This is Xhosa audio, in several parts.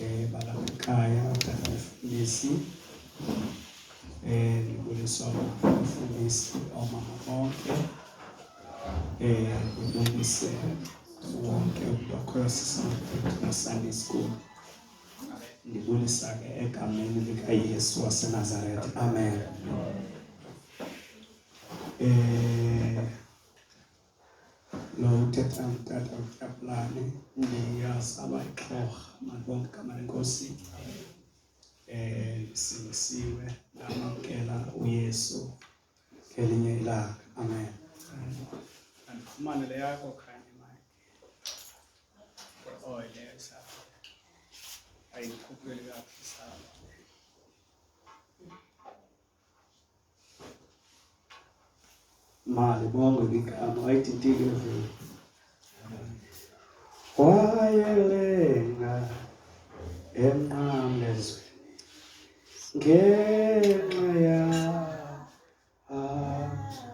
eh balamakaya abafundisi eh ndibulisa umfundisi omama bonke eh ndibulise wonke umntu akhoyo sisamfundisi Sunday school ndibulisa ke egameni likaYesu waseNazaretha amen eh Lo uthetha ngutata uTyaplane ndiyasaba ixhorha malibonke igama lenkosi um sindisiwe ndamamkela uyesu ngelinye ilanga amen andifumane le yakho khanye mike oh yes ayindikhuphuleli kakuhle saba mali bongo ligama wayithintile vele wayelenga emnqamlezweni ngenxa yakho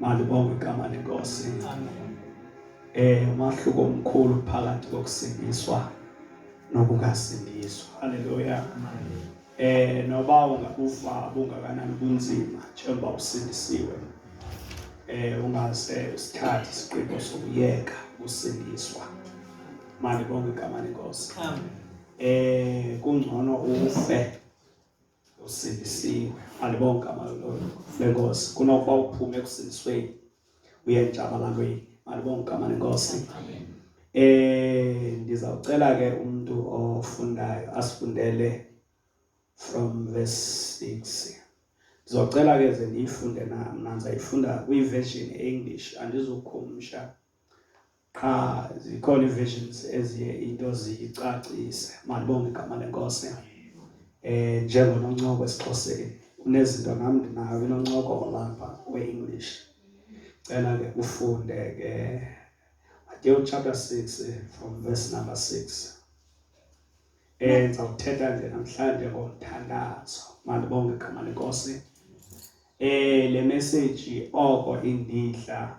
Mali bonke igama lenkosi. Amen. Eh umahluko omkhulu phakathi kokusindiswa nokungasindiswa. Haleluya. Eh noba ungakufa bungakanani kunzima njengoba usindisiwe. Eh ungase usithathe isiqinto sokuyeka ukusindiswa. Mali bonke igama lenkosi. Amen. Eh kungcono ufe usindisiwe andibonga malolo lenkosi kunokuba uphume ekusindisweni uye entshabalalweni andibonga igama lenkosi eh ndizawucela ke umuntu ofundayo asifundele from verse 6 ndizocela ke ze ndiyifunde nam nandiza yifunda kwiversion english andizukhumsha qha zikhona ii-versions eziye into ziyicacise malibonge igama lenkosi eh njengononcoko esiXhoseni unezinto nam ndinayo inoncoko olapha we-english cela ke ufunde ke Matthew chapter 6 eh, from verse number 6 eh ngizawuthetha nje namhlanje ngomthandazo mandibonge igama lenkosi eh le message oko indidla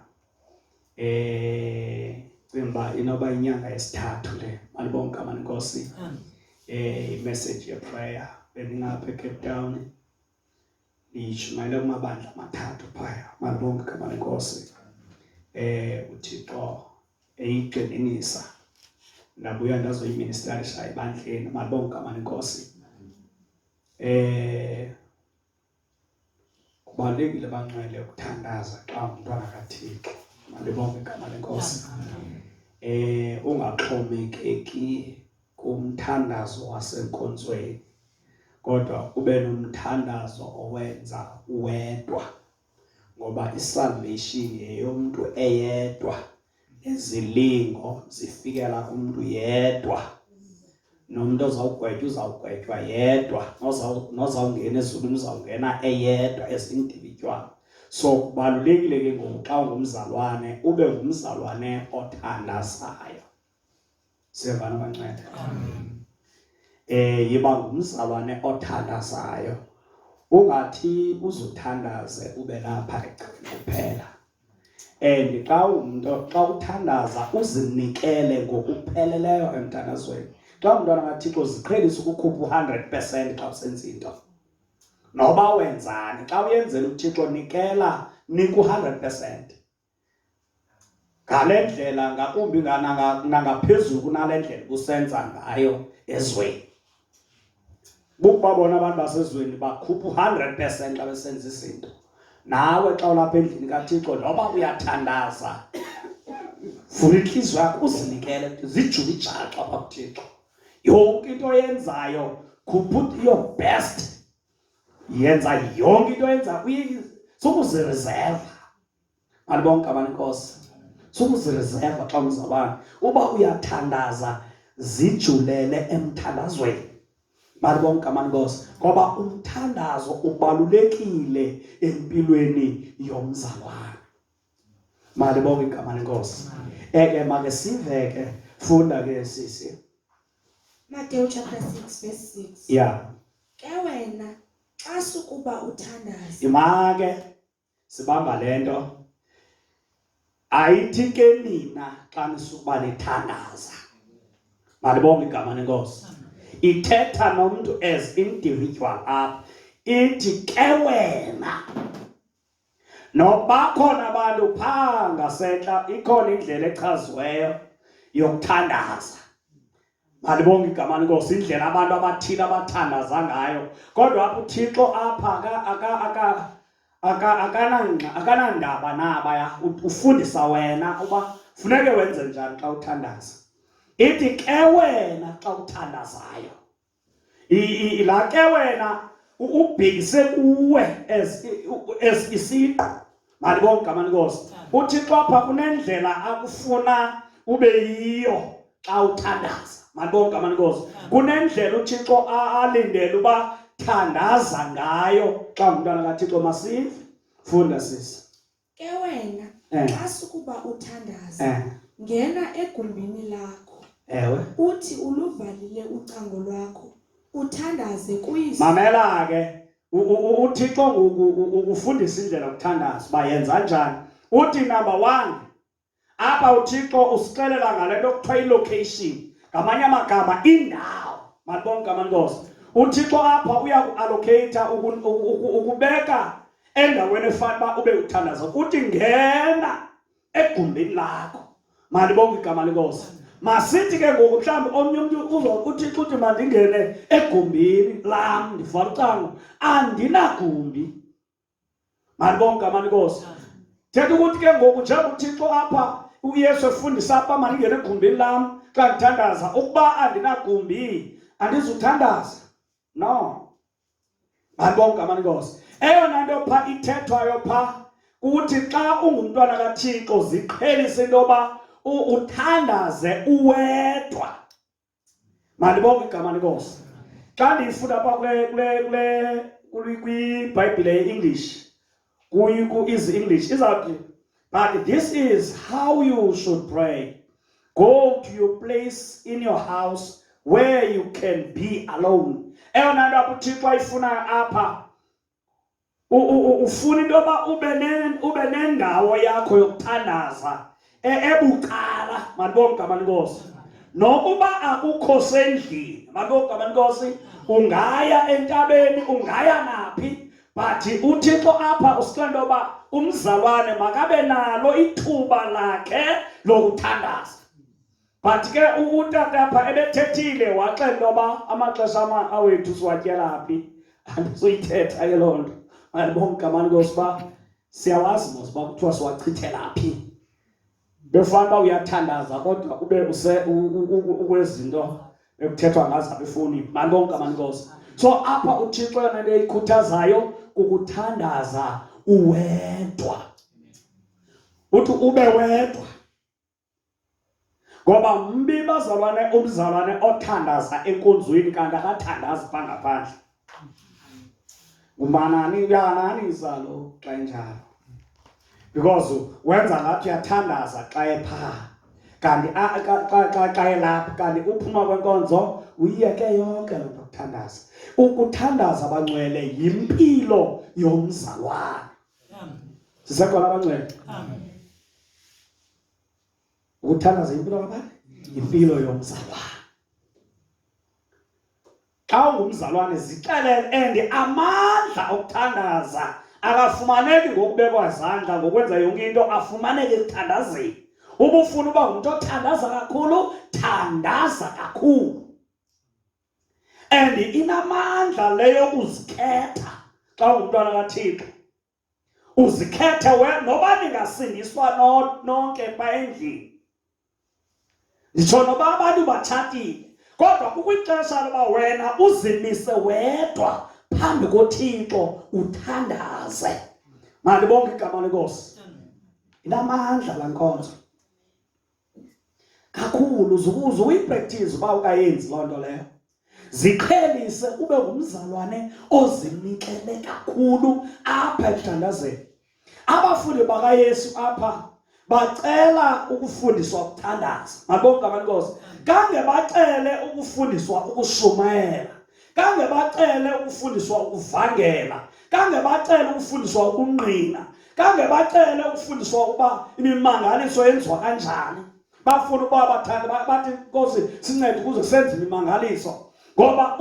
eh cimba inoba inyanga yesithathu le malibonke amani Nkosi eh imessage ye prayer bendingapha eCape Town ndiyishumayele kumabandla amathathu phaya malibonke amani Nkosi eh uThixo eyigxininisa ndabuya ndazoyiministarisha ebandleni malibonke amani Nkosi eh kubalulekile banxele ukuthandaza xa umntwana kathixo mandibonge igama lenkosi eh ungaxhomekeki kumthandazo wasenkonzweni kodwa ube nomthandazo owenza wedwa ngoba isalvation yeyomntu eyedwa nezilingo zifikela kumntu yedwa nomntu ozawugwetywa uzawugwetywa yedwa nozawungena ezulwini uzawungena eyedwa ezindibitywana so kubalulekile ke ngoku xa ungumzalwane ube ngumzalwane othandazayo siyevana banceda eh yiba ngumzalwane othandazayo ungathi uzuthandaze ube lapha egcini kuphela and xa umuntu xa uthandaza uzinikele ngokupheleleyo emthandazweni xa umntwana kathixo ziqhelisa ukukhupha u-hundred percent xa usenza into noba wenzani xa uyenzela uthixo nikela nika u-hundred percent ngale ndlela ngakumbi nangaphezulu kunale ndlela kusenza ngayo ezweni bukuba bona abantu basezweni bakhupha u-hundred percent xa besenza izinto nawe xa ulapha endlini kathixo noba uyathandaza vula intliziyo yakho uzinikele zijule ijaxa pha kuthixo yonke into oyenzayo khupha your best yenza yonke into yenza sukuziriserva bantu bonke abanenkosi sukuziriserva xa umzabane uba uyathandaza zijulele emthandazweni bantu bonke amankosi ngoba umthandazo ubalulekile empilweni yomzalwane Malibonge igama lenkosi. Eke make sive ke funda ke sisi. Matthew chapter 6 verse 6. Yeah. Ke wena xa sukuba uthandaza. Imake sibamba lento. Ayithi ke nina xa nisukuba nithandaza. Malibonge igama lenkosi. Ithetha nomuntu as individual up. Ithi ke wena Nokuba khona abantu phaa ngasentla ikhona indlela echaziweyo yokuthandaza. Malibonge igama lenkosi indlela abantu abathile abathandaza ngayo. Kodwa apha uThixo apha akanandaba naba ya ufundisa wena uba funeke wenze njani xa uthandaza. Ithi ke wena xa uthandazayo la ke wena ubhekise kuwe as as isiqu mali bonke amanikosi uthixo apha kunendlela akufuna ube yiyo xa uthandaza mali bonke amanikosi kunendlela uthixo alindele uba thandaza ngayo xa ngumntwana kathixo masive funda sisi Ke wena Eh. xa sukuba uthandaza Eh. ngena egumbini lakho Ewe. uthi uluvalile ucango lwakho uthandaze kuyise Mamela ke u- u- u- uThixo ngoku u- ukufundisa indlela yokuthandaza uba yenza njani. Uthi number 1 apha uthixo usixelela ngale nto kuthiwa ilocation ngamanye amagama indawo malibona igama lenkosi uthixo apha uya kuallocata ukubeka endaweni efana uba ube uthandaza uthi ngena egumbini lakho malibonga igama lenkosi masithi ke ngoku mhlawumbi omnye umntu uzokuthi xuthi mandingene egumbini lam ndivala ucango andinagumbi Malibonke ngamani Nkosi. Thetha ukuthi ke ngoku njengoba uThixo apha uYesu efundisa apha malingene egumbini lam xa ndithandaza ukuba andinagumbi andizuthandaza. No. Malibonke ngamani Nkosi. Eyona nto pha ithethwayo pha kuthi xa ungumntwana kaThixo ziqhelise into yoba uthandaze uwedwa. Mandibonge igama lenkosi. Xa ndiyifunda apha kule kule kule kwiBhayibhile ye-English ku-Easy English izawuthi but this is how you should pray. Go to your place in your house where you can be alone. Eyona nto apho uThixo ayifunayo apha ufuna into yoba ube nendawo yakho yokuthandaza e, ebucala mandibona igama lenkosi nokuba akukho sendlini mandibona igama lenkosi ungaya entabeni ungaya naphi but uthixo apha usicela into yoba umzalwane makabe nalo ithuba lakhe lokuthandaza but ke utata apha ebethethile waxela intoba amaxesha awethu siwatyela phi andizoyithetha ke loo nto andibonga igamani kosi uba siyawazi mos uba kuthiwa siwachithela phi befana uba uyathandaza kodwa ube ukwezinto ekuthethwa ngazo apha efowunini mandibonga igamani kosi so apha uthixo yona into eyikhuthazayo kukuthandaza uwedwa uthi ube wedwa ngoba mbi bazalwane umzalwane othandaza enkonzweni kanti akathandazi pha ngaphandle ngumanani uyananisa lo xa enjalo because wenza ngathi uyathandaza xa ephaa kanti xa elapha kanti uphuma kwenkonzo uyiyeke yonke loo nto kuthandaza ukuthandaza abangcwele yimpilo yomzalwane sisekhona abangcwele Ukuthandaza impilo kabani? Impilo yomzalwane. Xa ungumzalwane zixelele and amandla okuthandaza akafumaneki ngokubekwa izandla ngokwenza yonke into afumaneke ekuthandazeni. Uma ufuna uba ngumntu othandaza kakhulu, thandaza kakhulu. And inamandla leyo uzikhetha xa ungumntwana kaThixo. uzikhethe we noba ningasindiswa nonke pha endlini nditsho noba abantu batshatile kodwa kukwixesha loba wena uzimise wedwa phambi kothixo uthandaze mandibonke igama lenkosi inamandla la nkonzo kakhulu uze uyipractice uba ukayenzi loo nto leyo ziqhelise ube ngumzalwane ozinikele kakhulu apha ekuthandazeni abafundi bakayesu apha bacela ukufundiswa ukuthandaza mabonke abantu nkosi kange bacele ukufundiswa ukushumayela kange bacele ukufundiswa ukuvangela kange bacele ukufundiswa ukungqina kange bacele ukufundiswa ukuba imimangaliso yenziwa kanjani bafuna ukuba bathande bathi nkosi sincede ukuze senze imimangaliso ngoba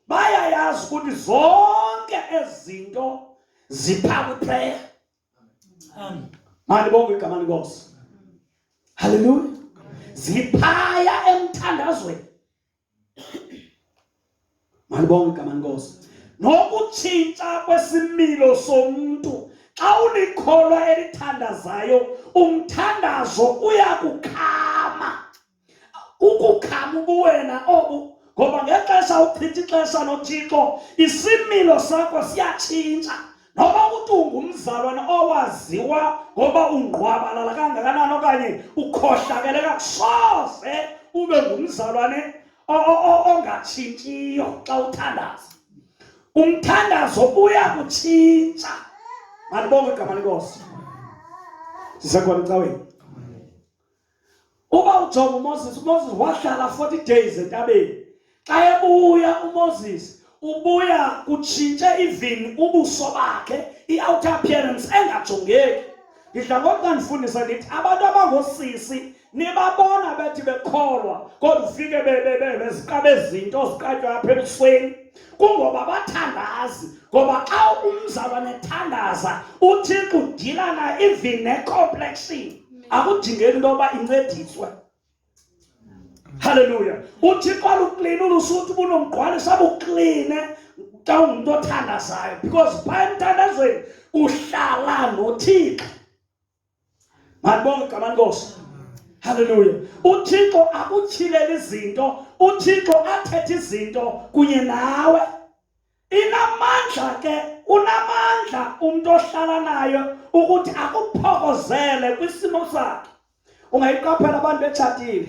bayayazi ukuthi zonke ezinto zipha kwiprayer mani bonke igama lenkosi haleluya ziphaya emthandazweni Malibonga igama lenkosi. Nokutshintsha kwesimilo somuntu xa ulikholwa elithandazayo umthandazo uyakukhama ukukhama ubuwena obu ngoba ngexesha uchitha ixesha nothixo isimilo sakho siyatshintsha noba uthi ungumzalwana owaziwa ngoba ungqwabalala kangakanani okanye ukhohlakele kakusoze ube ngumzalwane ongatshintshiyo xa uthandaza umthandazo uya kutshintsha malibonge igama lenkosi sisekhona ecaweni Uba ujonga uMoses, uMoses wahlala 40 days entabeni. Xa ebuya uMoses ubuya kutshintshe even ubuso bakhe, i-outer appearance engajongeki. Ngidla ngokuba ndifundisa ndithi abantu abangosisi nibabona bethi bekholwa kodwa ufike beziqaba ezinto ziqatywa apha ebusweni kungoba bathandazi ngoba xa umzalwane ethandaza uthixo udilana even necomplexion akudingeki into yoba incediswe halleluya uthixo aluklini ulusuthi bunomgqwalisa bukline xa ungumntu othandazayo because phaa emthandazweni uhlala nothixo mandibonge igama nkosi halleluya uthixo akutyhilele izinto uthixo athethe izinto kunye nawe inamandla ke unamandla umntu ohlala nayo ukuthi akuphokozele kwisimo sakhe ungayiqaphela abantu betshatile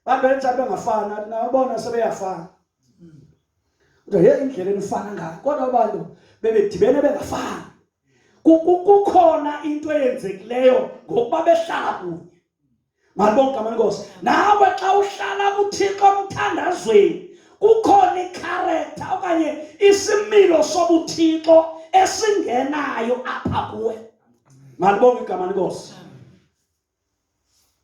abantu betshatile bengafani athi nabona sebeyafana kodwa ye indlela enifana ngayo kodwa abantu bebedibene bengafani kukhona into eyenzekileyo ngokuba behlala kunye Malibonke amankosi. Nawe xa uhlala kuThixo omthandazweni kukhona ikharektha okanye isimilo sobuthixo esingenayo apha kuwe. Malibonke igama lenkosi.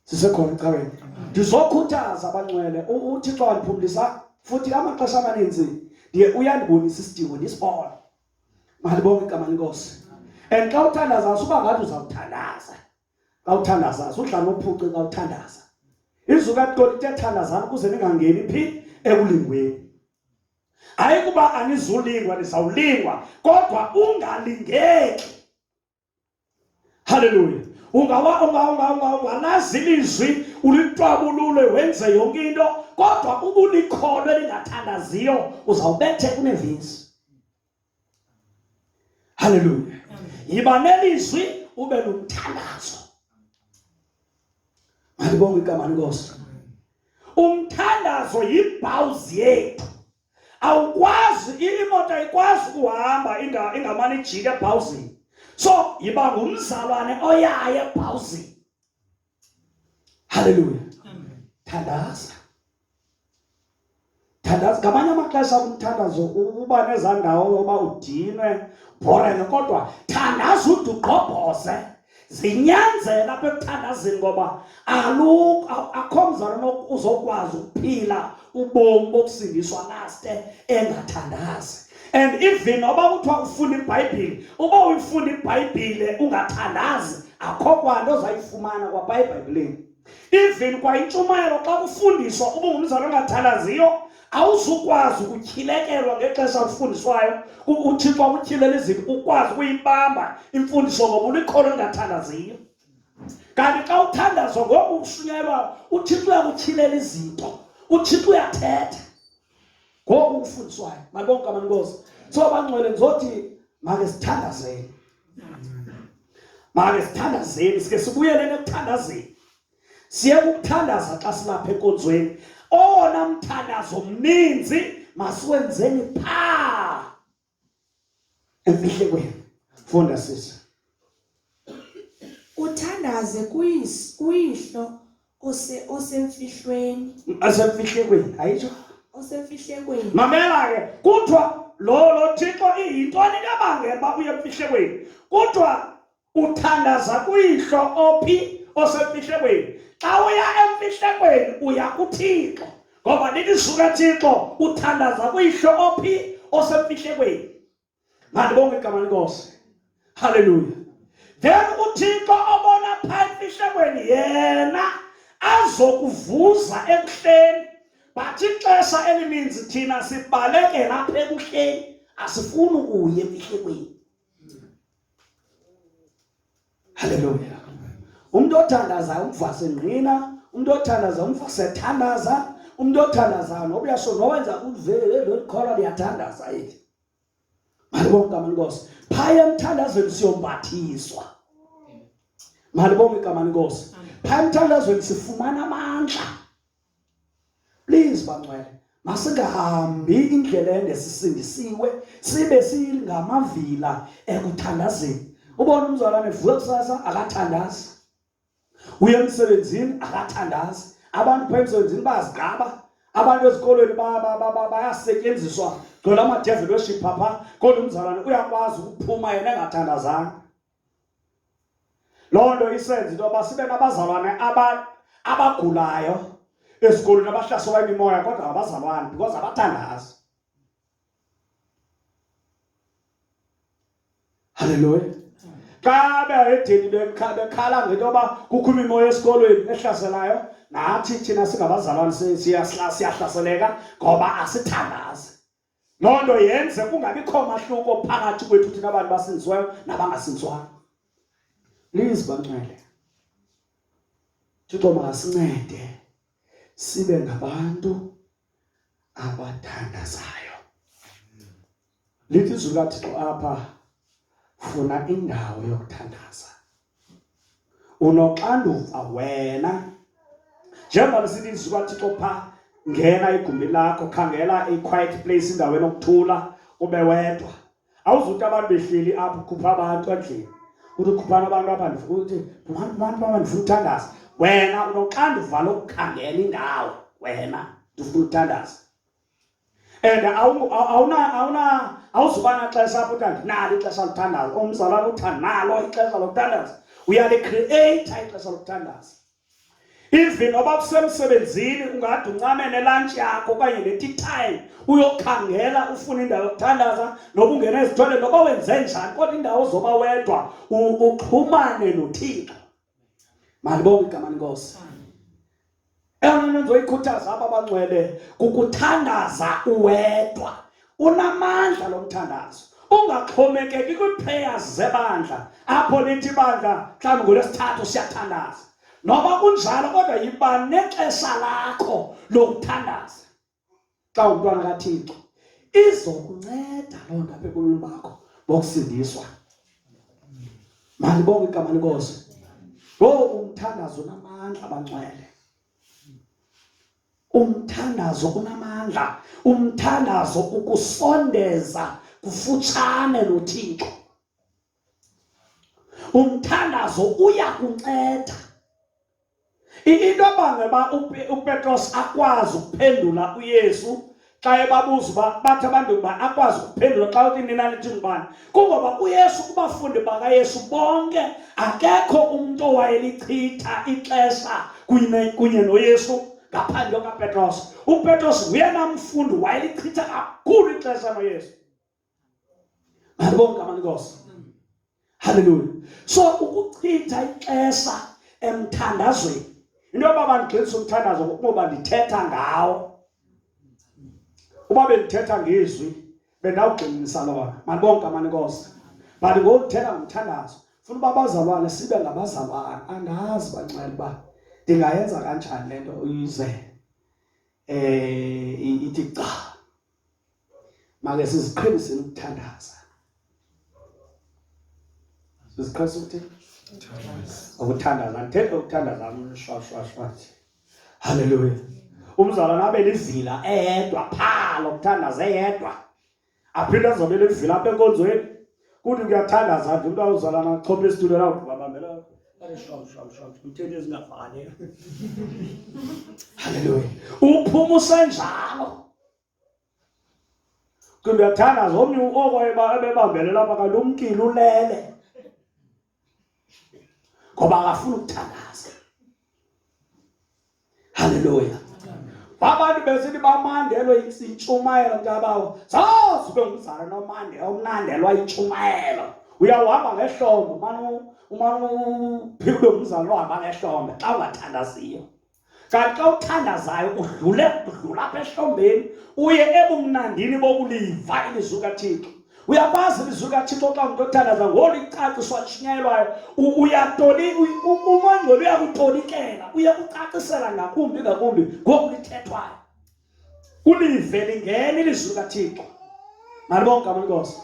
Sisekhona ecaweni. Ndizokhuthaza abancwele uThixo wandiphumlisa futhi amaxesha amaninzi ndiye uyandibonisa isidingo ndisibone. Malibonke igama lenkosi. And xa uthandaza usuba ngathi uzawuthandaza. xa uthandaza uhlala uphuce xa uthandaza izwi katolika ethandazana ukuze ningangeni phi ekulingweni hayi kuba anizulingwa nizawulingwa kodwa ungalingeki haleluya ungalazi ilizwi ulitwabulule wenze yonke into kodwa ubulikholo elingathandaziyo uzawubethe kunevisi Haleluya! Yiba nelizwi ube nomthandazo. Malibonge igama lenkosi. Umthandazo yibhawuzi yethu. Awukwazi imoto ayikwazi kuhamba ingamane ijike ebhawuzini. So yiba ngumzalwane oyaye ebhawuzini. Haleluya. Thandaza. Thandaza ngamanye amaxesha umthandazo uba nezaa ndawo yoba udinwe bhorene kodwa thandaza ude ugqobhoze zinyanzela apha ekuthandazini ngoba akho mzalwana uzokwazi ukuphila ubomi bokusindiswa laste engathandazi and even oba kuthiwa ufunda ibhayibhile uba uyifunda ibhayibhile ungathandazi akho kwanto ozayifumana kwapha ebhayibhileni even kwayintshumayelo xa kufundiswa uba ungumzali ongathalaziyo awuzukwazi ukutyhilekelwa ngexesha lifundiswayo uthixo akutyhilele izinto ukwazi ukuyibamba imfundiso ngoba ulikholo elingathandaziyo kanti xa uthandazwa ngoku ushunyelwa uthixo uyakutyhilela izinto uthixo uyathetha ngoku ukufundiswayo malibonke kamanikozi so bangcwele ndizothi make sithandazeni make sithandazeni sike sibuyeleni ekuthandazeni siye kukuthandaza xa silapha enkonzweni owona mthandazo mninzi masiwenzeni phaa efihle kwenu funda sisi uthandaze kuyis kuyihlo ose osemfihlweni asemfihle kwenu ayitsho osemfihle kwenu mamela ke kuthiwa lo lo thixo iyintoni kabangela uba uye emfihle kwenu kuthiwa uthandaza kuyihlo ophi osemfihlekweni xa uya emfihlekweni uya kuthixo ngoba lilizwi kathixo uthandaza kuyihlo ophi osemfihlekweni mandibonge igama lenkosi halleluya then uthixo obona pha emfihlekweni yena azokuvuza ekuhleni but ixesha elininzi thina sibalekela apha ekuhleni asifuni ukuya emfihlekweni Haleluya. Umuntu othandazayo umvase ngqina, umuntu othandazayo umvase thandaza, umuntu othandazayo noba uyasho nowenza ulivele lolikholwa liyathandaza yini. Malibonga igama lenkosi. Phaya emthandazweni siyombathiswa. Malibonga igama lenkosi. Phaya emthandazweni sifumana amandla. please bangcwele masingahambi indlela engesisindisiwe sibe singamavila ekuthandazeni ubona umzalwane vuka kusasa akathandazi uye emsebenzini akathandazi abantu pha emsebenzini bazigqaba abantu ezikolweni bayasetyenziswa gcwela amadevil worship pha pha kodwa umzalwane uyakwazi ukuphuma yena engathandazanga loo nto isenza into yoba sibe nabazalwane abagulayo ezikolweni abahlaselwa imimoya kodwa ngabazalwane because abathandazi halleluya xa beedeni bekhala ngento yoba kukho imimoya esikolweni ehlaselayo nathi thina singabazalwane siyahlaseleka ngoba asithandazi loo nto yenze kungabikho mahluko phakathi kwethu thina abantu basinzwayo nabangasinzwayo please bancwele thixo makasincede sibe ngabantu abathandazayo lithi izulu lathixo apha funa indawo yokuthandaza unoxanduva wena njengoba lisithi izwi kathixo pha ngena igumbi lakho khangela i-quiet place indawo enokuthula ube wedwa awuzuthi abantu behleli apho khupha abantu endlini uthi ukhuphana abantu apha ndifuthi abantu abantu baba ndifuna uthandaza wena unoxanduva lokukhangela indawo wena ndifuna uthandaza and awuzuba naxesha apho uthi andinalo ixesha lokuthandaza omzalwana uthi analo ixesha lokuthandaza uyalikreyitha ixesha lokuthandaza even noba kusemsebenzini ungade uncame nelantshi yakho okanye ne-tea time uyokhangela ufuna indawo yokuthandaza noba ungena ezithole noba wenze njani kodwa indawo zoba wedwa uxhumane nothixo Malibonge igama lenkosi. Eyona nto ndizoyikhuthaza aba banxwele kukuthandaza uwedwa. Unamandla lo mthandazo. Ungaxhomekeki kwii-prayers zebandla apho lithi ibandla mhlawumbi ngolwesithathu siyathandaza. Noba kunjalo kodwa yiba nexesha lakho lokuthandaza. xa umntwana kathixo izokunceda loo nto apha ebomini bakho bokusindiswa malibonge igama lenkosi lo umthandazo unamandla abancwele umthandazo unamandla umthandazo ukusondeza kufutshane nothixo umthandazo uya kunceda into abangela uba upetros akwazi ukuphendula uyesu xa ebabuza uba bathi abantu uba akwazi ukuphendula xa uthi nina nithi ngubani kungoba uyesu kubafundi bakayesu bonke akekho umntu owayelichitha ixesha kunye noyesu ngaphandle kapetros upetros nguyena mfundi wayelichitha kakhulu ixesha noyesu Andibonke abantu inkosi. Hallelujah. So ukuchitha ixesha emthandazweni. Into yoba bandigxilisa umthandazo ngokuba ndithetha ngawo. Uba bendithetha ngezwi bendawugxininisa lona. Mandibonke abantu inkosi. But ngokuthetha ngomthandazo funa uba abazalwane sibe ngabazalwane angazi bancela uba ndingayenza kanjani le nto uyizele um ithi cha make siziqheliseni ukuthandaza siziqhelisa ukuthi ukuthandaza ngithethe ukuthandaza amshwashwashwa haleluya umzalwana abe lizila eyedwa phaa lokuthandaza eyedwa aphinde azobe lizila apha enkonzweni kuthi kuyathandaza nje umntu awuzalana achophe esitulo lawo babambela uthethe ezingafani haleluya uphuma usenjalo ke ndiyathanda zomnye oko ebebambele lapha kanti umkile ulele ngoba akafuni ukuthandaza halleluya abantu besithi bamandelwe intshumayelo mntabawo zazi ube ngumzala nomande omnandelwa intshumayelo uyawuhamba ngehlombe umane uphile ube ngumzala ohamba ngehlombe xa ungathandaziyo kanti xa uthandazayo udlule udlula apha ehlombeni uye ebumnandini bokuliva ilizwi kathixo uyakwazi ilizwi kathixo xa umntu othandaza ngolu icaciswa lishunyayelwayo uyatoli umongcwele uyakutolikela uyakucacisela ngakumbi ngakumbi ngoku lithethwayo ulive lingena ilizwi likathixo nalibonke gama lenkosi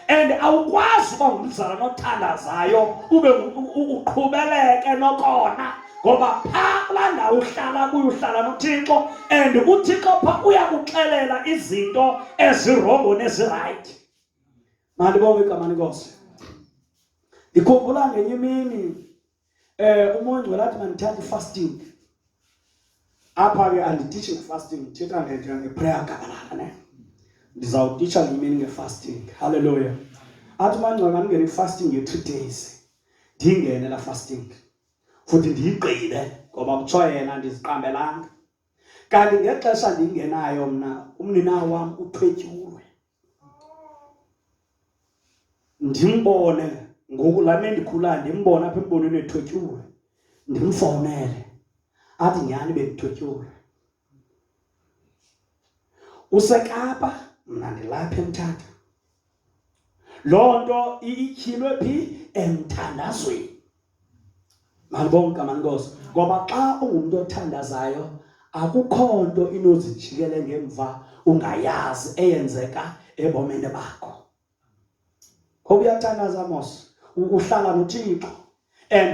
and awukwazi uba ngumzalwana othandazayo ube uqhubeleke nokona ngoba phaa kulaa ndawo uhlala kuyo uhlala nothixo and uthixo pha uyakuxelela izinto ezirongo nezirayithi mandibonge igama lenkosi ndikhumbula ngenye imini eh umoya ongcwele athi mandithathe fasting apha ke andititshe fasting ndithetha ngento ngeprayer gabalala ne ndizawutitsha ngemini ngefasting haleluya athi mangcwele mandingene ifasting ye-three days ndingene la fasting futhi ndiyigqibe ngoba kuthiwa yena ndiziqambelanga kanti ngexesha ndingenayo mna umninawo wam uthwetyiwe ndimbone ngoku laa me ndikhulayo ndimbone apha embonweni ethotyiwe ndimfowunele athi nyhani bendithotyiwe usekapa mna ndilapha emthatha loo nto ityhilwe phi emthandazweni Mandibonge igama lenkosi ngoba xa ungumntu othandazayo akukho nto inozijikele ngemva ungayazi eyenzeka ebomini bakho ngoba uyathandaza mos uhlala nothixo and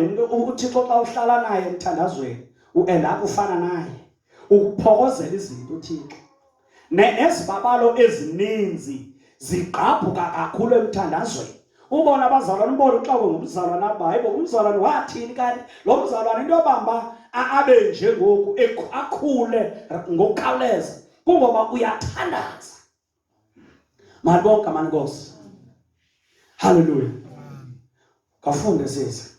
uthixo xa uhlala naye emthandazweni uenda kufana naye ukuphokozela izinto uthixo nezibabalo ezininzi zigqabhuka kakhulu emthandazweni ubona abazalwane umbona uxakwe ngumzalwane aba hayibo umzalwane wathini kanti lo mzalwane into yobamba abe nje ngoku akhule ngokukhawuleza kungoba uyathandaza mali bonke amani nkosi halleluya kafunde sisi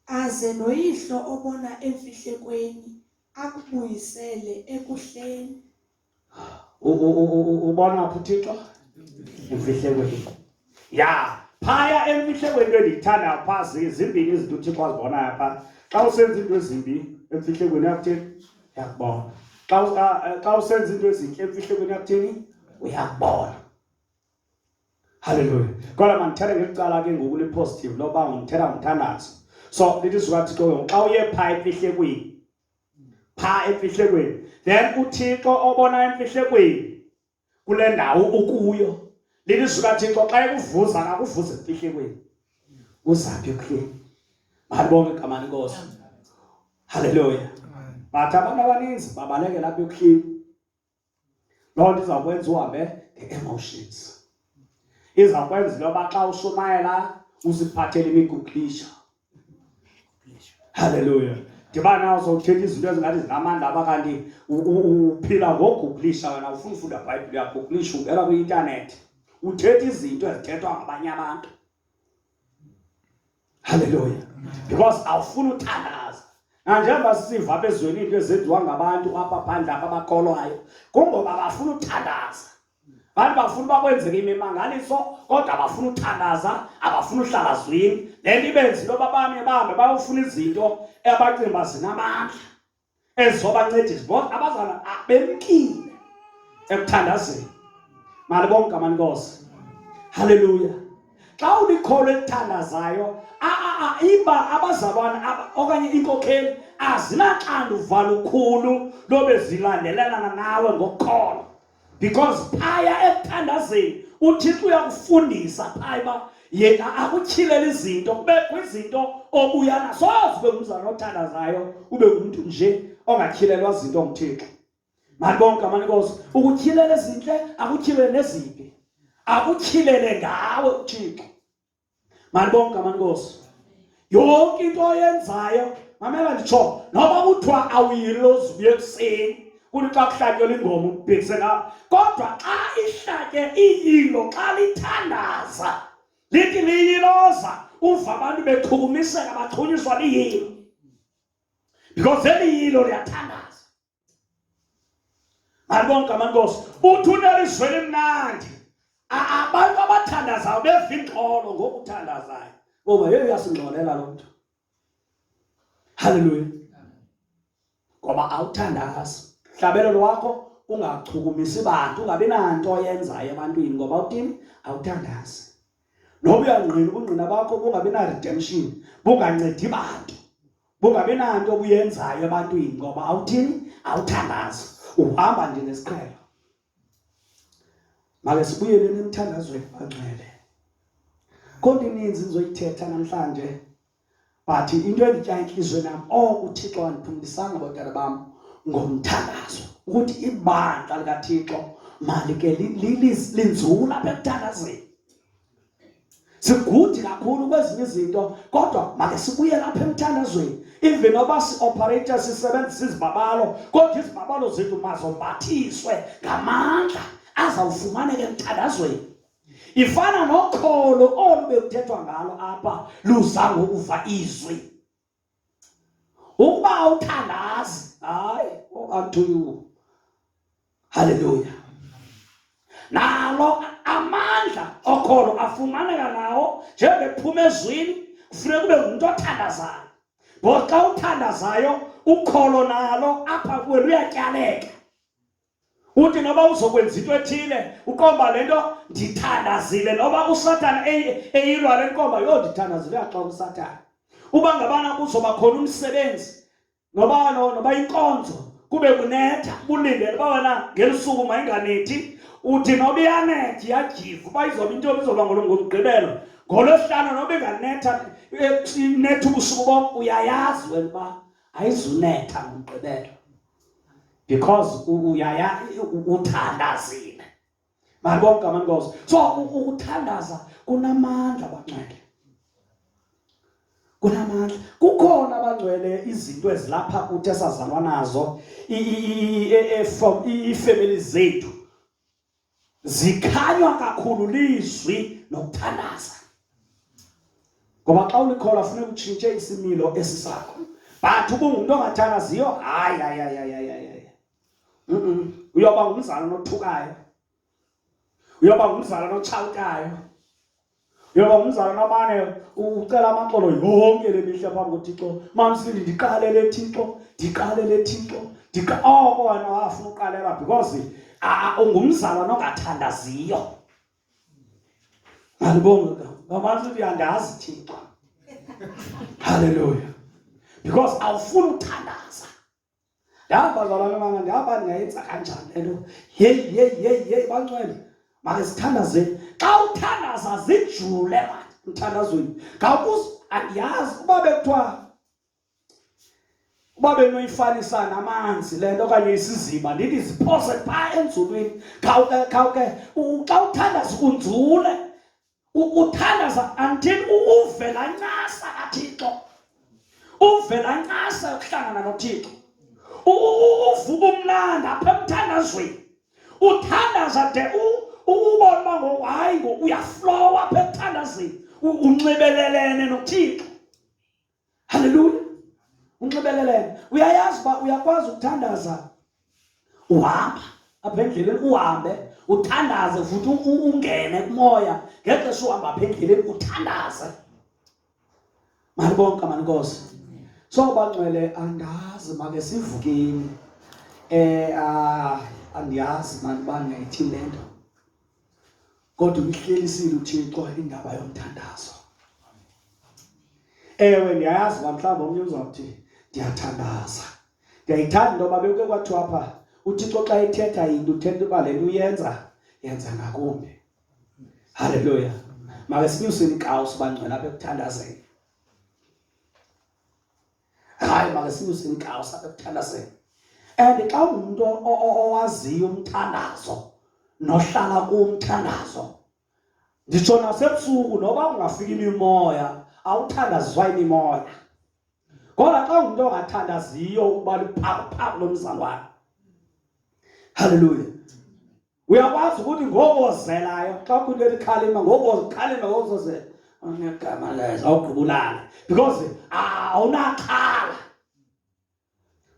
aze noyihlo obona emfihlekweni akubuyisele ekuhleni ubona phi uthixo emfihlekweni ya phaya emfihlekweni into endiyithanda pha zimbini izinto uthixo azibonayo pha xa usenza into ezimbi emfihlekweni yakuthini yakubona xa usenza into ezintle emfihlekweni yakuthini uyakubona halleluya kodwa mandithethe ngelicala ke ngoku lipositive loba ngithetha ngomthandazo so lithi zukathixo ke xa uye phaa emfihlekweni phaa emfihlekweni then uthixo obona emfihlekweni kule ndawo ukuyo lithi zukathixo xa ekuvuza akakuvuze emfihlekweni kuzaphi ekuhleni malibonke igama lenkosi halleluya but abantu abaninzi babalekela apha ekuhleni loo nto izawukwenza uhambe nge-emotions izawukwenza into yoba xa ushumayela usiphathele imiguqisha halleluya ndiba nazo uthetha izinto ezingathi zinamandla aba kanti uphila ngogugulisha wena ufuna ufunda bhayibhile uyagugulisha ungena kwi-intanethi uthetha izinto ezithethwa ngabanye abantu Haleluya. Because awufuni uthandaza. Nanjengoba sisiva apha ezweni into ezenziwa ngabantu apha phandle apha abakholwayo, kungoba bafuna uthandaza. Abantu bafuna uba kwenzeke imimangaliso kodwa abafuna uthandaza, abafuna uhlala zwini. Le nto ibenza into yoba bame bahambe bayofuna izinto abacinga uba zinamandla. ezizobancedisa bona abazana bemkile ekuthandazeni mali bonke amanikosi haleluya xa ulikholo elithandazayo iba abazalwana okanye inkokheli azinaxanduva lukhulu lobe zilandelelana nawe ngokholo because phaya ekuthandazeni uthixo uyakufundisa phaya uba yena akutyhilele izinto kubekho izinto obuya nazo ube ngumzana othandazayo ube ngumntu nje ongatyhilelwa zinto nguthixo mani bonke amanikosi ukutyhilele ezintle akutyhilele nezimbi akutyhilele ngawe uthixo malibonke amankosi yonke into oyenzayo mamela nditsho noba kuthiwa awuyilozi ubuye ekuseni kuthi xa kuhlatyelwa ingoma ubhekise ngawo kodwa xa ihlatye iyilo xa lithandaza lithi liyiloza uva abantu bechukumiseka bachunyiswa liyilo because eli yilo liyathandaza Alibonke amankosi. Uthuna lizwe limnandi. Abantu abathandazayo beva ingxolo ngokuthandazayo. Ngoba yeye uyasingxolela lo mntu. Haleluya. Ngoba awuthandazi. Hlabelo lwakho ungachukumisi bantu ungabi nanto oyenzayo ebantwini ngoba uthini awuthandazi noba uyangqina ubungqina bakho bungabi na-redemption bungancedi bantu bungabi nanto obuyenzayo ebantwini ngoba awuthini awuthandazi uhamba nje nesiqhelo make sibuyele nemthandazweni bangcwele konke ininzi nizoyithetha namhlanje but into enditya intliziyweni yam oko oh, uthixo wandiphumlisanga abantwana bam ngomthandazo ukuthi ibandla likathixo malike linzula apha ekuthandazeni sigudi kakhulu kwezinye izinto kodwa make sibuye lapha emthandazweni even oba si-operator sisebenzisa izibabalo kodwa izibabalo zethu mazombathiswe ngamandla azawufumaneka emthandazweni ifana nokholo olu bekuthethwa ngalo apha luza ngokuva izwi Ukuba awuthandazi, hayi unto oh, you. Hallelujah. Nalo amandla okholo afumaneka nawo njengephuma ezwini kufuneka kube ngumntu othandazayo. Ngoxa uthandazayo ukholo nalo apha kuwe luyatyaleka. uthi noba uzokwenza into ethile uqomba le nto ndithandazile noba usathana eyilwa le nkomba yho ndithandazile uyaxoka usathana uba ngabana kuzoba khona umsebenzi noba noba inkonzo kube kunetha bulindele uba wena ngelisuku mayinganethi uthi noba iyanethi yajiva uba izoba into izoba ngolomgqibelo ngolwesihlanu noba inganetha eh, inetha ubusuku bom uyayazi wena uba ayizunetha ngomgqibelo because uyaya uthandazile malibona igama lenkosi so ukuthandaza kunamandla bangcwele kunamandla kukhona abangcwele izinto ezilapha kuthi esazalwa nazo e, e, e, from iifemeli zethu zikhanywa kakhulu lizwi nokuthandaza ngoba xa ulikhola funeka utshintshe isimilo esi sakho but ubungumntu ongathandaziyo hayi hayi hayi hayi hayi uyoba ngumzalwana othukayo uyoba ngumzalwana otshawutayo Yoba umzali namane ucela amaxolo yonke le mihla phambi koThixo. Mamsindi ndiqalele Thixo, ndiqalele Thixo. Ndika oko wena wafuna uqalela because ungumzala nongathandaziyo. Alibonga ngabantu uyandazi Thixo. Hallelujah. Because awufuni uthandaza. Yazi bazalwane bana ngaba ndingayenza kanjani le nto. Yeyi, yeyi, yeyi, yeyi, bancwele. Makasithandazeni. Xa uthandaza zijule mani emthandazweni. Ngakuz andiyazi uba bekuthiwa uba benoyifanisa namanzi le nto okanye isiziba ndithi ziphose phaa enzulwini khawuke khawuke xa uthandaza unzule ukuthandaza until uve laa ncasa kathixo uve laa ncasa yokuhlangana nothixo uvuka umnandi apha emthandazweni uthandaza de ubona uba ngoku hayi ngoku uyaflowa apha emthandazweni unxibelelene nothixo Haleluya! Unxibelelene, uyayazi uba uyakwazi ukuthandaza uhamba apha endleleni, uhambe uthandaze futhi ungene kumoya ngexesha uhamba apha endleleni uthandaze. Malibonke amanikosi sobangcwele andazi make sivukeni um eh, ah, andiyazi mani uba ndingayithini le nto kodwa umhlelisile uThixo indaba yomthandazo ewe ndiyayazi uba mhlawumbi omnye uzawuthi ndiyathandaza ndiyayithanda into yoba bekuke kwathiwa pha uthixo xa ethetha yinto uthetha uba le nto uyenza yenza ngakumbi halleluya make sinyuseni inkawusi bangcwela apha ekuthandazeni hayi makasinyuse inkawu sabe kuthandazela and xa ungumntu owaziyo umthandazo nohlala kumthandazo nditsho nasebusuku noba ungafika imimoya awuthandaziswa imimoya kodwa xa ungumntu ongathandaziyo ukuba luphakuphako lomzalwane halleluya uyakwazi ukuthi ngokozelayo xa ukhulile likhalima ngokozikhalima ngozozela unegama lezo awugqibulale because awunaxhala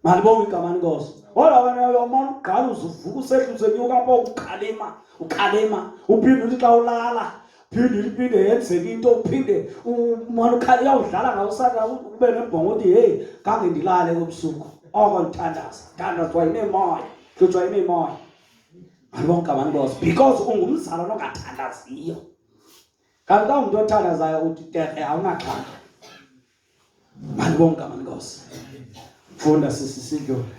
malibonga igama lenkosi kodwa wena uyomona ugqala uzuvuka usehla usenyuka apho ukhalima ukhalima uphinde uthi xa ulala phinde uliphinde yenzeka into uphinde umona ukhala uyawudlala ngawusaka ube nebhongo uthi heyi kange ndilale kobusuku oko ndithandaza thandaza wayinemoya hlutshwa yinemoya alonke abantu bozo because ungumzalwana ongathandaziyo kanti ka umntu othandazayo uthi terhe awunaxhala mani bonke abantu bozo funda sisi sidlule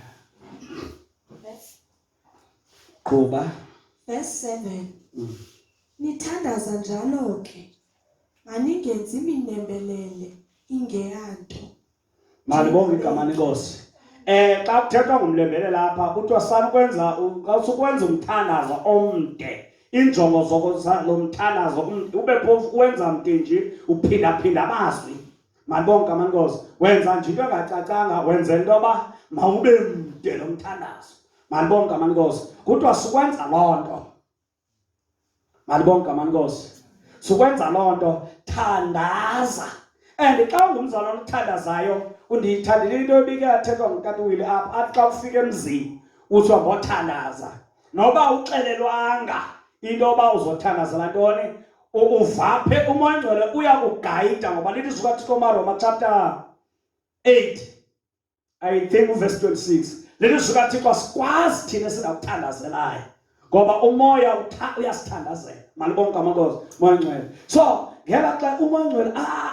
qhuba verse 7 mm. nithandaza njalo ke maningenzi minembelele ingeyanto Malibonga igama lenkosi. Eh xa kuthethwa ngomlembele lapha kuthiwa sanukwenza xa usukwenza umthandazo omde injongo zokulomthandazo ube phofu kuwenza mntinji uphindaphinda amazwi malibonke amankosi wenza nje into engacacanga wenze into yoba mawube mde lo mthandazo malibonke amankosi kuthiwa sikwenza loo nto malibonke ngamani nkosi sukwenza loo nto thandaza and xa ungumzalwana othandazayo undiyithandile into ebike yathethwa ngukatiwile apha athi xa ufika emzini uthi wambothandaza noba uxelelwanga into yoba uzothandazela ntoni uvaphe umoya ngcwele uyakugayida ngoba lilizwi kathixo maroma chapter 8 I think verse 26 lelizwi kaThixo asikwazi thina singakuthandazelayo ngoba umoya uyasithandazela malibonke amakozi moya ngcwele so ngela xa umoya ngcwele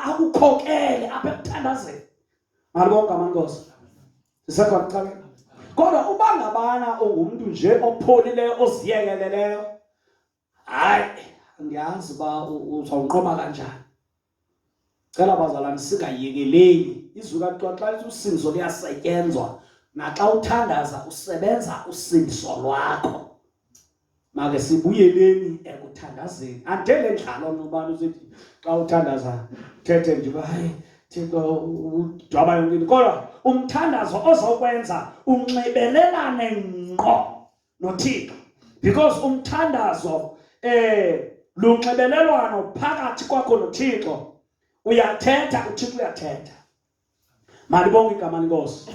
akukhokele apha ekuthandazeni malibonke amankosi sisekho kucala kodwa uba ngabana ungumntu nje opholileyo oziyekeleleyo hayi andiyazi uba uzawunqoba kanjani cela bazalwane singayekeleli izwi kathiwa xa lithi usindiso liyasetyenzwa naxa uthandaza usebenza usindiso lwakho make sibuyeleni ekuthandazeni andele ndlalo nobani usethi xa uthandaza thethe ndiba hayi thixo udwaba yonke into kodwa umthandazo ozokwenza unxibelelane ngqo noThixo because umthandazo eh lunxibelelwano phakathi kwakho noThixo uyathetha uThixo uyathetha malibonke igama lenkosi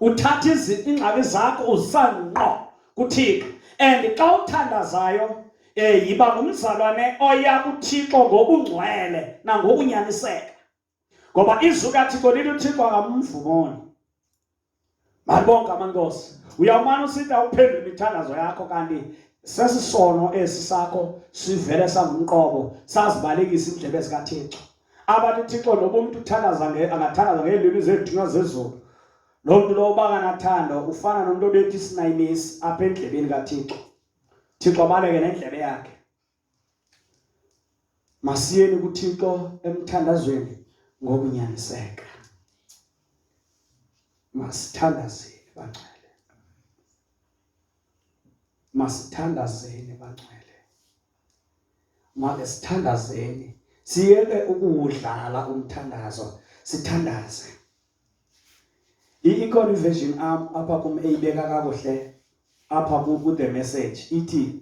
uthatha ingxaki zakho usanqo kuThixo and xa uthandazayo eh yiba ngumzalwane oya kuThixo ngokungcwele nangokunyaniseka ngoba izwi kathixo lithi uthixo akamvumoni malibonke amankosi uyawumane usitha uphendula imithandazo yakho kanti sesisono esi sakho sivele sangumqobo sazibalekisa indlebe zikathixo abantu uthixo noba umntu uthandaza angathandaza ngeelwimi zeethunywa zezulu loo mntu lowo uba kanathando ufana nomntu obethi isinayimisi apha endlebeni kathixo thixo abaleke nendlebe yakhe masiyeni kuThixo emthandazweni ngokunyaniseka masithandazeni bangcwele masithandazeni bangcwele make sithandazeni siyeke ukuwudlala umthandazo sithandaze ikhona iversion apha kum eyibeka kakuhle apha ku the message ithi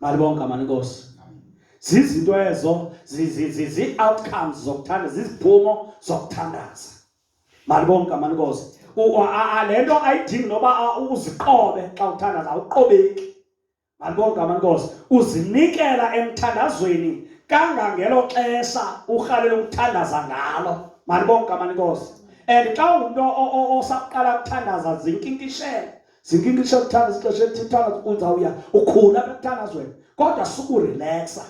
malibonke amanikosi zizinto ezo zii-outcomes zokuthanda ziziphumo zokuthandaza malibonke amanikosi le nto ayidingi noba uziqobe xa uthandaza awuqobeki malibonke amanikosi uzinikela emthandazweni kangangelo xesha urhalela ukuthandaza ngalo malibonke amanikosi and xa ungumntu osaqala ukuthandaza zinkinkishele Zinkini xa kuthanda sixesha elithithana uzawuya ukhula apha ekuthandazweni kodwa sukurileksa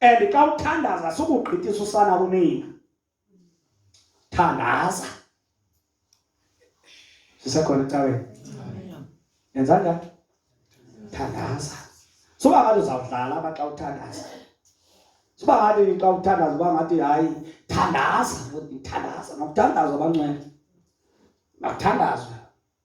and xa uthandaza sukugqithisa usana kunina thandaza sisekhona ecaweni yenza njani thandaza suba ngathi uzawudlala aba xa uthandaza suba ngathi xa uthandaza uba ngathi hayi thandaza thandaza makuthandazwa abancwele makuthandazwe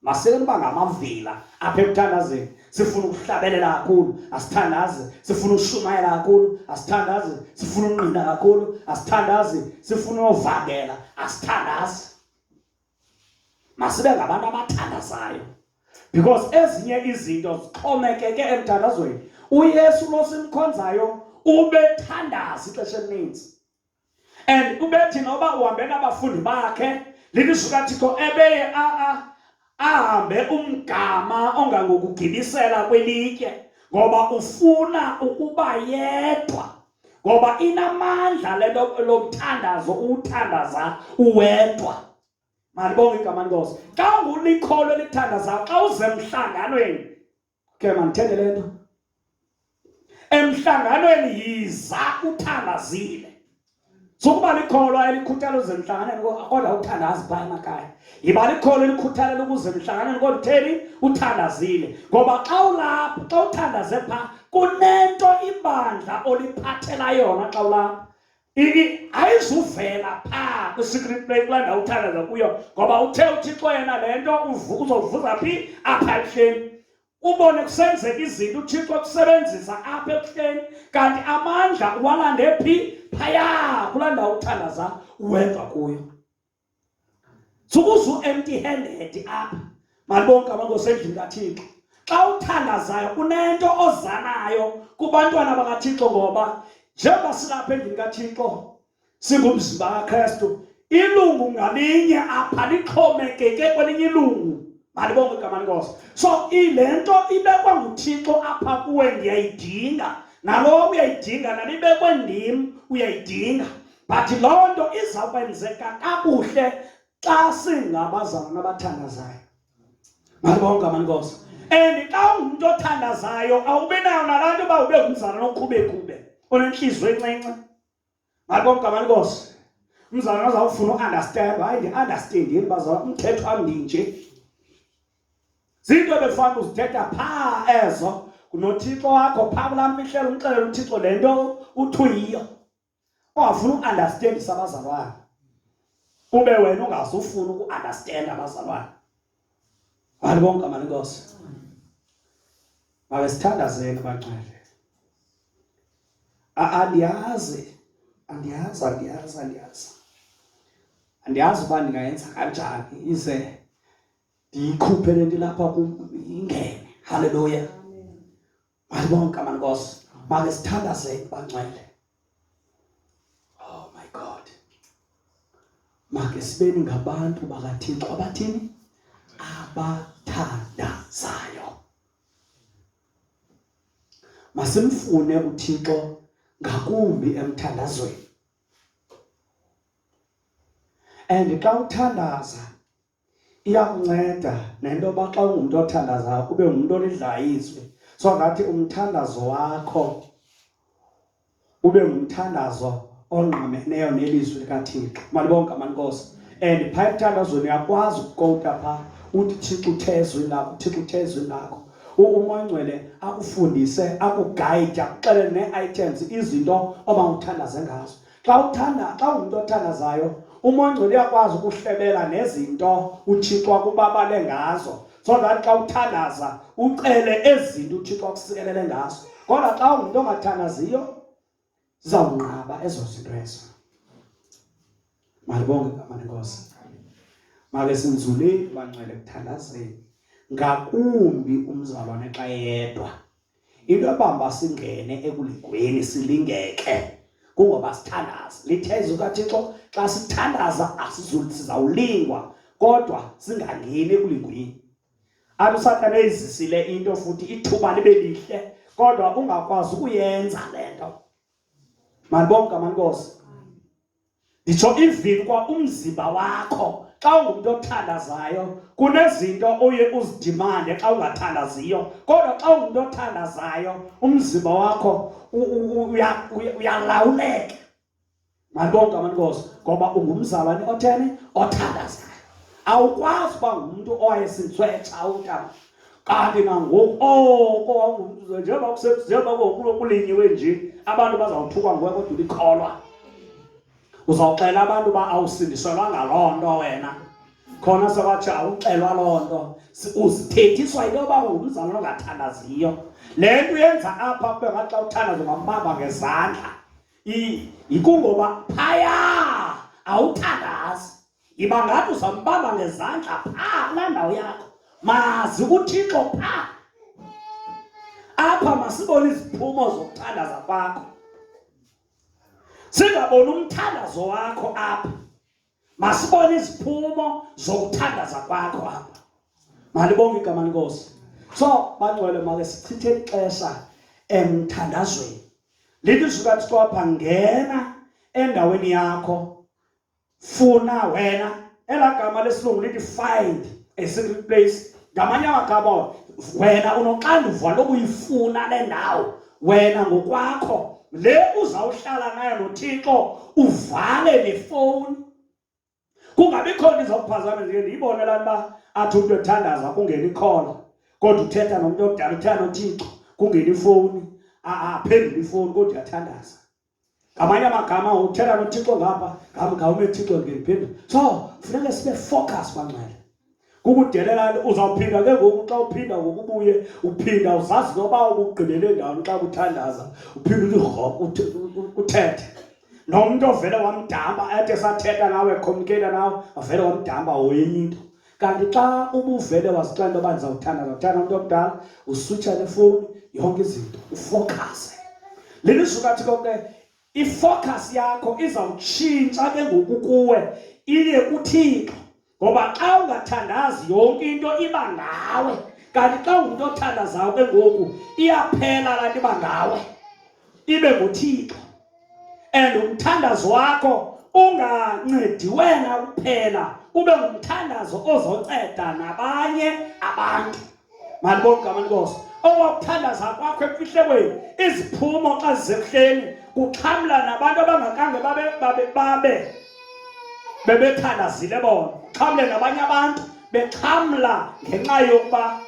Masele kuba ngamavila apha ekuthandazeni. Sifuna ukuhlabelela kakhulu, asithandaze. Sifuna ushumayela kakhulu, asithandaze. Sifuna unqina kakhulu, asithandaze. Sifuna ovangela, asithandaze. Masibe ngabantu abathandazayo. Because ezinye izinto zixhomekeke emthandazweni. UYesu lo simkhonzayo ubethandaza ixesha elininzi. and ubethi noba uhambe nabafundi bakhe lilizwi kathixo ebeye ahambe umgama ongangokugibisela kwelitye ngoba ufuna ukuba yedwa ngoba inamandla le nto lomthandazo uwuthandaza uwedwa malibonge igama lenkosi xa ungulikholwa elithandazayo xa uzemhlanganweni ke mandithende le nto emhlanganweni yiza uthandazile sukuba likholwa elikhuthala uze emhlanganweni kodwa uthandazi phaa emakhaya yiba likholwa elikhuthalela ukuze emhlanganweni kodwa utheni uthandazile ngoba xa ulapha xa uthandaze phaa kunento ibandla oliphathela yona xa ulapha ini ayizuvela phaa kwi-secret play kulaa ndawo uthandaza kuyo ngoba uthe uthixo yena le nto uzovuza phi apha ebuhleni ubone kusenzeka izinto uthixo kusebenzisa apha ebuhleni kanti amandla uwalande phi phaya kulaa ndawo uthandaza uwenza kuyo sukuze u-empty handed apha malibonke abantu osendlini kathixo xa uthandazayo unento ozanayo kubantwana bakathixo ngoba njengoba silapha endlini kathixo singumzimba kakristu ilungu ngalinye apha lixhomekeke kwelinye ilungu malibonke igama lenkosi so ile nto ibekwa nguthixo apha kuwe ndiyayidinga nalowo uyayidinga nalibekwe ndim uyayidinga but loo nto izawukwenzeka kakuhle xa singabazalwana abathandazayo malibonke amanikosa and xa ungumntu othandazayo awubi nayo nalaa nto uba ube ngumzalwana okhubekube onentliziyo encinci malibonke amanikosa umzalwana azawufuna uunderstand hayi ndi-understand yini bazalwa umthetho wam ndinje zinto ebefana uzithetha phaa ezo ngunothixo wakho phaa kulaa mfihlelo umxelela uthixo le nto uthuyiyo ongafuni uunderstandisa abazalwane ube wena ungazufuni uku-understand abazalwane bani bonke amani inkosi mabe sithandazeni bangcwele andiyazi andiyazi andiyazi andiyazi andiyazi uba ndingayenza kanjani ize ndiyikhuphe le nto ilapha kum ingene halleluya Bantu bonke amankosi make sithandazeni bangcwele. Oh my God. Make sibeni ngabantu bakaThixo abathini? Abathandazayo. Masimfune uThixo ngakumbi emthandazweni. And xa uthandaza iyakunceda nento yoba xa ungumntu othandazayo ube ngumntu olidlayo izwi so ngathi umthandazo wakho ube ngumthandazo ongqameneyo nelizwi likathixo malibonke amankosi and phaa emthandazweni uyakwazi ukukowuta phaa uthi thixo uthe ezwini lakho thixo uthe ezwini lakho umoyingcwele akufundise akugayide akuxelele nee-items izinto oba uthandaze ngazo xa uthanda xa ungumntu othandazayo umongcwele uyakwazi ukuhlebela nezinto uthixo akubabale ngazo so that xa uthandaza ucele ezi zinto uthixo akusikelele ngazo kodwa xa ungumntu ongathandaziyo zizawunqaba ezo zinto ezo malibonge igama lenkosi make sinzuleni banxele kuthandazeni ngakumbi umzalwane xa yedwa into ebamba singene ekulingweni silingeke kungoba sithandaza litheza ukathixo xa sithandaza asizulsizawulingwa kodwa singangeni ekulingweni athi usathane eyizisile into futhi ithuba libe lihle kodwa ungakwazi ukuyenza le nto manibonke amankosi nditsho even kwa umzimba wakho xa ungumntu othandazayo kunezinto oye uzidimande xa ungathandaziyo kodwa xa ungumntu othandazayo umzimba wakho uyalawuleka malibonke amanikosi ngoba ungumzalwane otheni othandazayo awukwazi uba ngumntu owayesintswetsha utata kanti nangoku oko wawungumntu njengoba njengoba kokulo kulinyiwe nje abantu bazawuthukwa nguwe kodwa ulikholwa uzawuxela abantu uba awusindiselwa ngaloo nto wena khona sekwathi awuxelwa loo nto uzithethiswa into yoba ungumzalwana ongathandaziyo le nto uyenza apha kube ngathi xa uthandaza ungambamba ngezandla yikungoba phaya awuthandazi Yiba ngathi uzambamba ngezandla pha kulaa ndawo yakho. Mazi uThixo pha. Apha masibone iziphumo zokuthandaza kwakho. Singaboni umthandazo wakho apha. Masibone iziphumo zokuthandaza kwakho apha. Malibonge igama lenkosi. So bangcwele make sichithe ixesha emthandazweni. Lilizwi kaThixo apha ngena endaweni yakho funa wena ela gama lesilungu lithi find a secret place ngamanye amagama wena unoxanduva lokuyifuna le ndawo wena ngokwakho le uzawuhlala nayo nothixo uvale nefowuni kungabikho nto izawuphazamisa ke ndiyibone laa nto uba athi umntu ethandaza kungena ikhona kodwa uthetha nomntu omdala uthetha nothixo kungena ifowuni aphendule ifowuni kodwa uyathandaza ngamanye amagama uthetha nothixo ngapha ngawume thixo ndiphendula so funeke sibe focus banxele kukudelelani uzawuphinda ke ngoku xa uphinda ngokubuye uphinda uzazi noba ubugqibele ndawoni xa kuthandaza uphinde uthi rhok uthethe nomntu ovele wamdamba athi esathetha nawe ekhomnikela nawe avele wamdamba woyenye into kanti xa ubuvele wazixela into yoba ndizawuthanda ndizawuthanda umntu omdala usutsha nefowuni yonke izinto ufokase le lizulu kathi konke ifocus yakho izawutshintsha ke ngoku kuwe iye kuthixo ngoba xa ungathandazi yonke into iba ngawe kanti xa ungumntu othandazayo ke ngoku iyaphela laa nto iba ngawe ibe nguthixo and umthandazo wakho ungancedi wena kuphela ube ngumthandazo ozonceda nabanye abantu malibona igama lenkosi owakuthandaza kwakho emfihlekweni iziphumo xa zisekuhleni kuxhamla nabantu abangakange babe babe babe bebethandazile bona xhamle nabanye abantu bexhamla ngenxa yokuba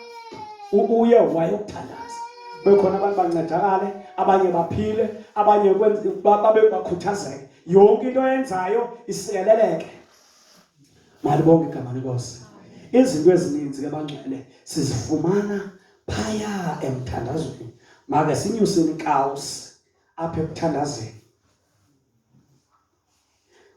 uye wayokuthandaza bekhona abantu bancedakale abanye baphile abanye babe bakhuthazeke yonke into yenzayo isikeleleke malibonke igama lenkosi izinto ezininzi ke bangcwele sizifumana phaya emthandazweni make sinyuseni kawusi apha ekuthandazeni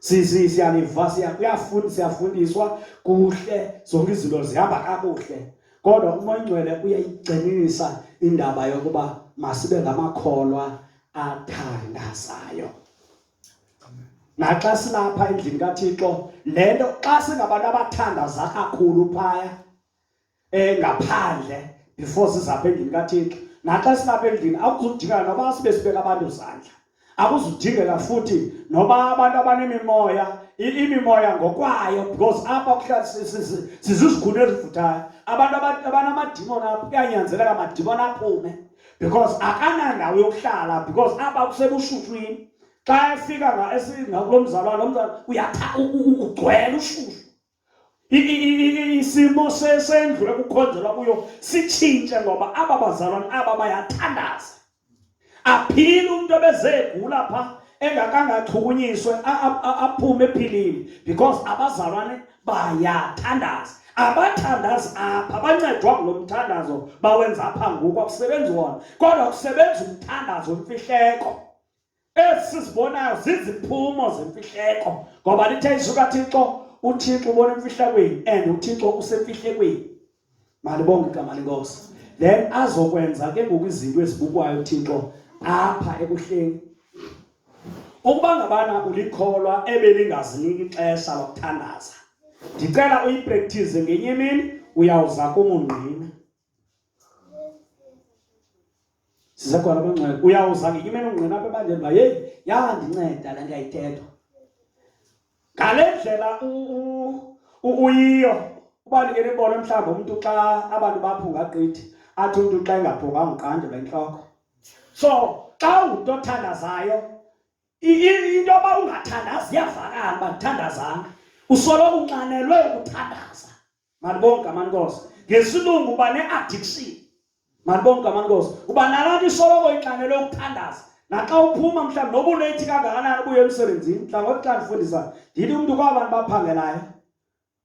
siyanivasiya kuyafunda siyafundiswa kuhle zonke izinto zihamba kakuhle kodwa umoya ongcwele uyayigcinisa indaba yokuba masibe ngamakholwa athandazayo naxa silapha endlini kathixo le nto xa singabantu abathandaza kakhulu phaya eh ngaphandle before sizapha endlini kaThixo naxa silapha endlini akuzudingeka noba sibe sibeka abantu izandla akuzudingeka futhi noba abantu abanemimoya imimoya ngokwayo because apha kuhlala sizizikhulu ezivuthayo abantu abanamadimoni apho kuyanyanzeleka amadimoni aphume because akanandawo yokuhlala because apha kusebushutshwini xa efika ngakulo mzalwana lo mzalwana uyatha ugcwele ushushu isimo sendlu ekukhonzelwa kuyo sitshintshe ngoba aba bazalwana aba bayathandaza aphile umntu ebezegula pha engakangachukunyiswe aphume ephilile because abazalwane bayathandaza abathandazi apha bancedwa ngulo mthandazo bawenza apha ngoku akusebenzi wona kodwa kusebenza umthandazo wemfihleko esi sibonayo ziziphumo zemfihleko ngoba lithe izwi kathixo uthixo ubona emfihlakweni and uthixo usemfihlekweni malibonge igama lenkosi then azokwenza ke ngoku izinto ezibukwayo uthixo apha ekuhleni ukuba ngabana ulikholwa ebelingaziniki ixesha lokuthandaza ndicela uyipractice ngenye imini uyawuza kumungqina sisekhona abangcwele uyawuza ngenye imene ungqina apha ebandleni uba yeyi yandinceda le nto yayithethwa ngale ndlela uyiyo uba ndingene ibona mhlawumbi umntu xa abantu baphunga gqithi athi umntu xa engaphunganga uqandelwa intloko so xa ungumntu othandazayo into yoba ungathandazi iyavakala uba ndithandazanga usoloko unxanelwe ukuthandaza Malibonke amankosi. Ngesilungu uba ne-addiction. Malibonke amankosi. Uba nalapho isoloko inxanelwe ukuthandaza. Naxa uphuma mhlawumbi noba unethi kangakanani ubuye emsebenzini, mhlawumbi xa ndifundisa ndithi umntu kwabantu baphangelayo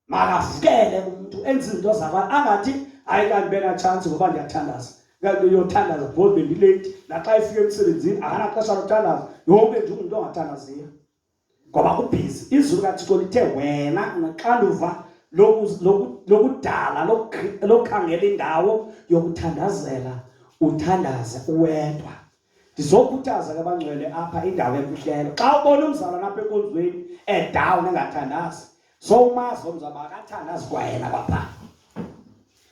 makafukele umntu enze izinto zabantu angathi hayi kanti benatshantsi ngoba ndiyathandaza kanti uyothandaza because bendileyithi naxa efika emsebenzini akanaxesha lothandaza yonke nje ungumntu ongathandaziyo ngoba kubhizi izulu kathixo lithe wena unaxanduva lokudala lokukhangela indawo yokuthandazela uthandaze uwedwa ndizokhuthaza ke abangcwele apha indawo emfihlelo xa ubona umzalwana apha enkonzweni edown engathandazi so umazi omzi aba akathanda azikwayena bapha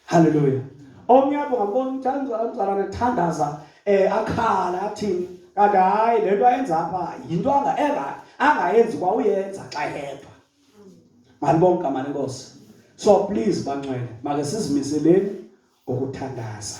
halleluya omnye apho ngambona umzalwana ethandaza um eh, akhala athini kanti hayi le nto ayenza apha yinto angayenzi kwa uyenza xa yedwa malibonke igama lenkosi so please bancwele make sizimiseleni ngokuthandaza